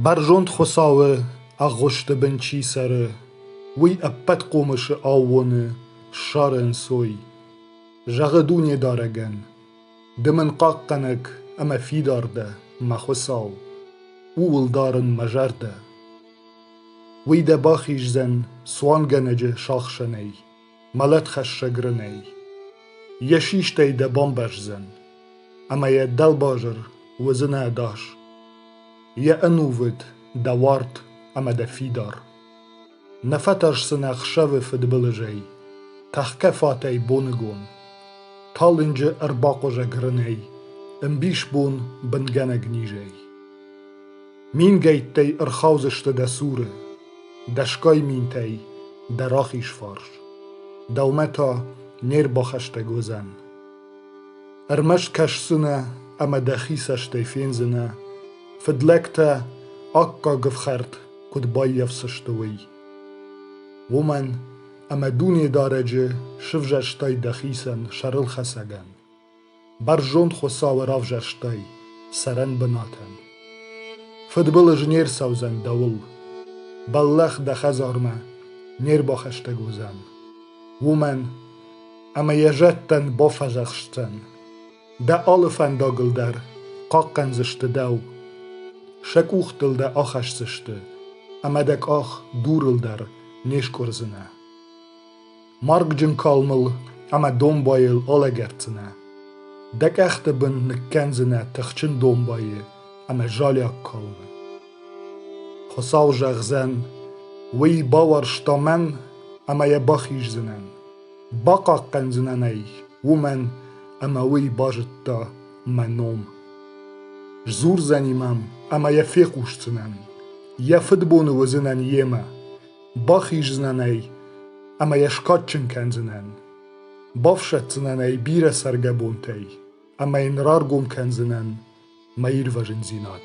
Бӕрзонд Хуыцауы ӕгъгъуысты бын чи цӕры, уый ӕппӕт хъомысы аууоны ссары ӕнцой, зӕгъы Дунедарӕгӕн: «Ды мын хъахъхъӕнӕг ӕмӕ фидар дӕ, мӕ Хуыцау, ууыл дарын мӕ зӕрдӕ». Уый дӕ бахиздзӕн цуангӕнӕджы сахсӕнӕй. Мӕлӕтхӕссӕг рынӕй. Йӕ систӕй дӕ бамбӕздзӕн, ӕмӕ йӕ дӕлбазыр уыдзынӕ ӕдас. Йӕ ӕнувыд дӕ уарт ӕмӕ дӕ фидар. Нӕ фӕтӕрсдзынӕ ӕхсӕвы фыдбылызӕй, тӕхгӕ фатӕй боныгон. Талынджы ӕрбахъуызӕг рынӕй, ӕмбисбон бынгӕнӕг низӕй. Мингӕйттӕй ӕрхаудзысты дӕ цуры, дӕсгай минтӕй дӕ рахизфарс, дӕумӕ та не рбахӕстӕг уыдзӕн. Ӕрмӕст кӕсдзынӕ ӕмӕ дӕхи цӕстӕй фендзынӕ, фыдлӕгтӕ аккаг ӕфхӕрд куыд баййафдзысты, уый. Уымӕн ӕмӕ Дунедарӕджы сывзӕрстай дӕхицӕн сӕрылхӕцӕгӕн. Бӕрзонд Хуыцауы равзӕрстай цӕрӕн бынатӕн. Фыдбылыз не рцӕудзӕн дӕуыл. Бӕллӕх дӕ хӕдзармӕ не рбахӕстӕг уыдзӕн. Уымӕн, ӕмӕ йӕ зӕдтӕн бафӕдзӕхсдзӕн. Дӕ алы фӕндагыл дӕр хъахъхъӕндзысты дӕу. Сӕ къухтыл дӕ ахӕсдзысты, ӕмӕ дӕ къах дурыл дӕр не скъуырдзынӕ. Маргджын калмыл ӕмӕ домбайыл алӕгӕрддзынӕ. Дӕ къӕхты бын ныккӕндзынӕ тыхджын домбайы ӕмӕ залиаг калмы. Хуыцау зӕгъдзӕн, уый бауарзта мӕн ӕмӕ йӕ бахиздзынӕн. Бахъахъхъӕндзынӕн ӕй уымӕн, ӕмӕ уый базыдта мӕ ном. Сдзурдзӕни мӕм ӕмӕ йӕ фехъусдзынӕн. Йӕ фыдбоны уыдзынӕн йемӕ, Бахиздзынӕн ӕй ӕмӕ йӕ скадджын кӕндзынӕн. Бафсӕддзынӕн ӕй бирӕ цӕргӕ бонтӕй ӕмӕ йын раргом кӕндзынӕн мӕ ирвӕзындзинад.